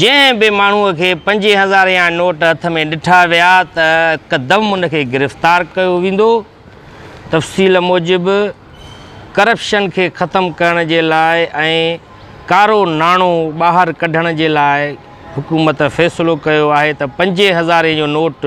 جنهن به ماڻهوء کي پنجين هزارين جا نوٽ هٿ ۾ ڏٺا ويا ته هڪدم ان کي گرفتار ڪيو ويندو. تفصيل موجب ڪرپشن کي ختم ڪرڻ جي لاء ۽ ڪارو ناڻو ٻاهر ڪڍڻ جي لاء حڪومت فيصلو ڪيو آهي ته پنجين هزارين جو نوٽ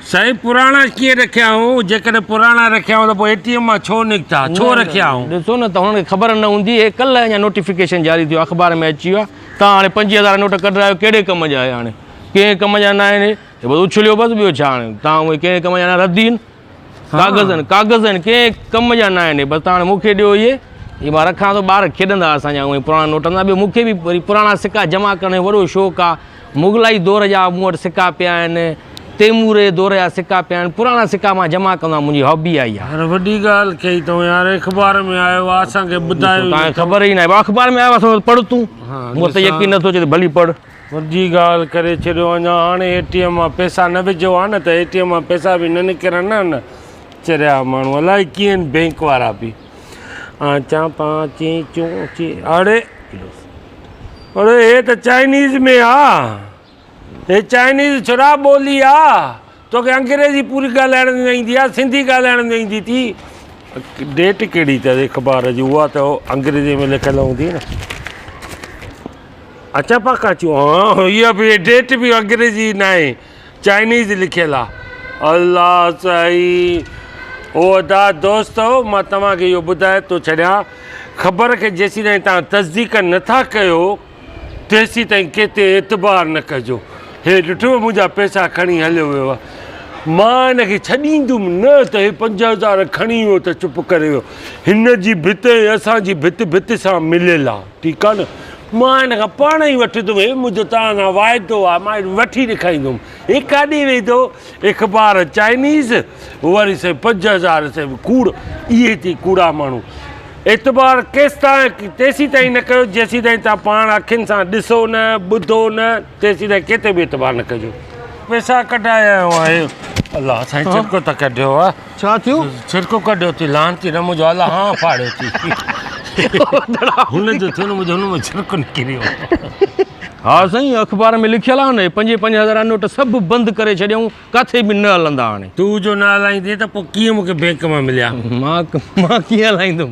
سائين پراڻا ڪيئن رکيا هو جيڪڏهن پراڻا رکيا هو ته پوء اي ٽي ايم مان ڇو نڪتا ڇو رکيا هو. ڏسو نه توهان کي خبر نه هوندي هي ڪلهه اڃا نوٽيفڪيشن جاري ٿيو اخبار ۾ اچي ويو آهي توهان هاڻي پنجويهه هزار نوٽ ڪڍرايو ڪهڙي ڪم جا هي هاڻي ڪنهن ڪم جا نه آهن هي هي بس اڇليو بس ٻيو ڇا هاڻي توهان اهي ڪنهن ڪم جا نه رد هين ڪاغذ هين ڪاغذ هين ڪنهن ڪم جا نه آهن هي بس توهان مون کي ڏيو اهي هي مان رکان ٿو ٻار کيڏندا اسان جا اهي پراڻا نوٽ هوندا ٻيو مون کي به وري پراڻا سڪا جمع ڪرڻ جو وڏو شوق آهي مغلائي دور جا مون وٽ سڪا پيا آهن تيموري دور جا سڪا پيا آهن پراڻا سڪا مان جمع ڪندو آهيان منهنجي هابي آهي اها. يار وڏي ڳالهه ڪئي تون يار اخبار ۾ آيو آ اسان کي ٻڌايو ئي نه توکي خبر ئي نه آهي ڀاء اخبار ۾ آيو آ سو پڙهه تون مون تي يقين نه ٿو اچي ته ڀلي پڙهه. وڏي ڳالهه ڪري ڇڏيو اڃا هاڻي اي ٽي ايم مان پئسا نه وجهو ها نه ته اي ٽي ايم مان پئسا به نه نڪرن ها نه چريا ماڻهو الائي ڪيئن آهن بينڪ وارا به آچان پانچين چون چي اڙي پر هي ته چائنيز ۾ آ. هي چائنيز ڇڙا ٻولي آ. توکي انگريزي پوري ڳالهائڻ نه ايندي آ. سنڌي ڳالهائڻ نه ايندي تي. ڊيٽ ڪهڙي اٿس اخبار جي اها ته انگريزي ۾ لکيل هوندي نه اچا پاڪا چون ها اها به ڊيٽ به انگريزي ناهي چائنيز لکيل آ الله سائين او ادا دوست مان توهان کي اهو ٻڌائي ٿو ڇڏيان خبر کي جيسين تائين توهان تصديق نٿا ڪيو تيسين تائين ڪنهن تي اعتبار نه ڪجو هي ڏٺو منهنجا پيسا کڻي هليو ويو آ مان هن کي ڇڏيندم نه ته هي پنج هزار کڻي ويو ته چپ ڪري ويو هن جي ڀت ۽ اسان جي ڀت ڀت سان مليل آ ٺيڪ آهي نه. مان هن کان پاڻ ئي وٺي ٿو ويهيم، منهنجو توهان سان واعدو آهي، مان هن وٺي ڏيکاريندوم. هي ڪاڏي ويندو؟ اخبار چائنيز، وري سائين پنج هزار سين به ڪوڙ، اهي ٿي ڪوڙا ماڻهو. اعتبار ڪيستائين تيسيتائين نه ڪيو، جيسيتائين توهان پاڻ اکين سان ڏسو نه، ٻڌو نه، تيسيتائين ڪنهن تي به اعتبار نه ڪجو. پئسا ڪڍايا هئائين. الله سائين ڇڪو ته ڪڍيو آهي. ڇا ٿيو؟ ڇرڪو ڪڍيو ٿي لعنتي نه منهنجو الله هان ڦاڙيو ٿي هن جو ٿيو نه منهنجو هن ۾ ڇرڪ نڪريو ها سائين اخبار ۾ لکيل آهي نه پنج پنج هزار نوٽ سڀ بند ڪري ڇڏيائون ڪاٿي به نه هلندا هاڻي. تون جو نه هلائيندين ته پوء ڪيئن مون کي بينڪ مان مليا. مان ڪيئن هلائيندم.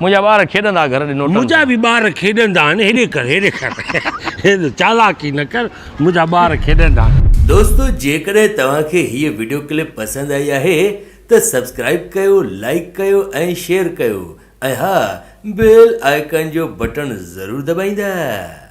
منهنجا ٻار کيڏندا گهر ڏنو ٽن منهنجا به ٻار کيڏندا آهن هيڏي ڪر هيڏي ڪر هيڏي چالاڪي نه ڪر منهنجا ٻار کيڏندا آهن. دوستو جيڪڏهن توهان کي هيء وڊيو ڪلپ پسند آئي آهي ته سبسڪرائب ڪيو لائيڪ ڪيو ۽ شيئر ڪيو ۽ ها بيل آئيڪان جو بٽڻ ضرور دٻائيندا.